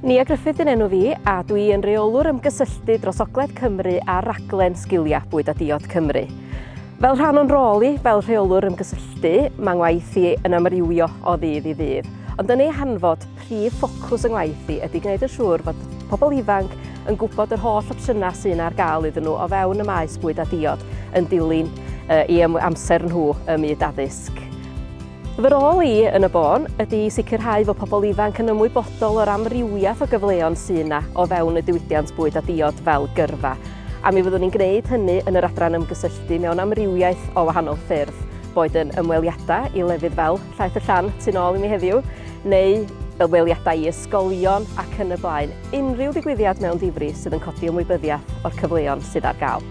Nia Gruffydd yn enw fi a dwi yn reolwr ymgysylltu dros Ogledd Cymru ar raglen Sgiliau Bwyd a Diod Cymru. Fel rhan o'n rôl i fel rheolwr ymgysylltu, mae ngwaith i yn amrywio o ddydd i ddydd, ond yn ei hanfod, prif ffocws yng ngwaith i ydy gwneud yn siŵr fod pobl ifanc yn gwybod yr holl opsiynau sy'n ar gael iddyn nhw o fewn y maes bwyd a diod yn dilyn uh, i amser nhw ym myd addysg. Fy rôl i yn y bôn ydy i sicrhau fod pobl ifanc yn ymwybodol o'r amrywiaeth o gyfleon sy' yna o fewn y diwydiant bwyd a diod fel gyrfa, a mi fyddwn ni'n gwneud hynny yn yr adran ymgysylltu mewn amrywiaeth o wahanol ffyrdd, boed yn ymweliadau i lefydd fel Llaeth y Llan tu nôl i mi heddiw, neu ymweliadau i ysgolion ac yn y blaen, unrhyw ddigwyddiad mewn difri sydd yn codi ymwybyddiaeth o'r cyfleon sydd ar gael.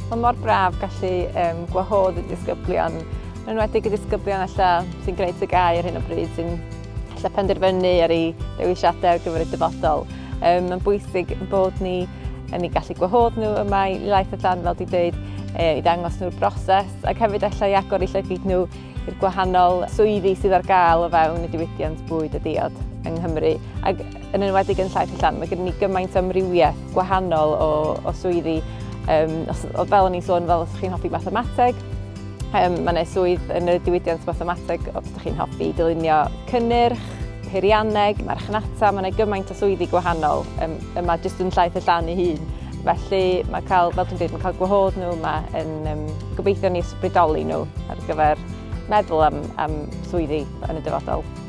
Mae mor braf gallu um, gwahodd y disgyblion, yn enwedig y disgyblion alla sy'n gwneud tygau ar hyn o bryd, sy'n alla penderfynu ar ei dewisiadau ar gyfer y dyfodol. Um, mae'n bwysig bod ni yn ei gallu gwahodd nhw yma i laeth y dan, fel di dweud, e, i ddangos nhw'r broses, ac hefyd allai agor i llygyd nhw i'r gwahanol swyddi sydd ar gael o fewn y diwydiant bwyd a diod yng Nghymru. Ac yn enwedig yn Llais y Llan, mae gen ni gymaint amrywiaeth gwahanol o, o swyddi. Um, os, fel o'n i'n sôn, fel os chi'n hoffi mathemateg, um, mae yna swydd yn y diwydiant mathemateg os ydych chi'n hoffi dylunio cynnyrch, peirianneg, marchnata, mae yna gymaint o swyddi gwahanol um, yma jyst yn llaeth y llan ei hun. Felly mae cael, fel dwi'n dweud, mae cael gwahodd nhw yma yn um, gobeithio ni ysbrydoli nhw ar gyfer meddwl am, am swyddi yn y dyfodol.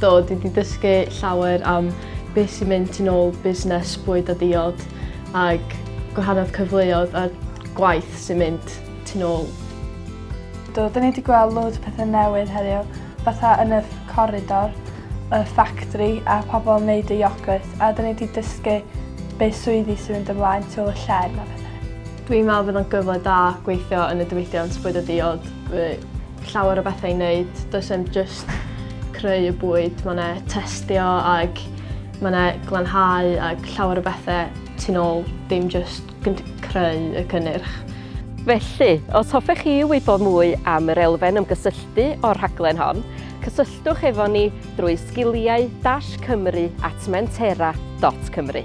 Do, dwi wedi dysgu llawer am beth sy'n mynd tu ôl busnes bwyd a diod ac gwahanodd cyfleoedd a gwaith sy'n mynd tu ôl. Do, dyn ni wedi gweld loads o pethau newydd heddiw, fatha yn y corridor, y ffactri a pobl yn neud y iogwrt a dyn ni wedi dysgu beth swyddi sy'n mynd ymlaen tu ôl y llên a pethau. Dwi'n meddwl bydd o'n gyfle da gweithio yn y diwydiant bwyd a diod. Fy llawer o bethau i wneud. Does e'm just creu y bwyd, mae 'na testio ag mae 'na glanhau ag llawer o bethau tu nôl, dim just creu y cynnyrch. Felly, os hoffech chi wybod mwy am yr elfen ymgysylltu o'r rhaglen hon, cysylltwch efo ni drwy sgiliau-cymru at mentera.cymru.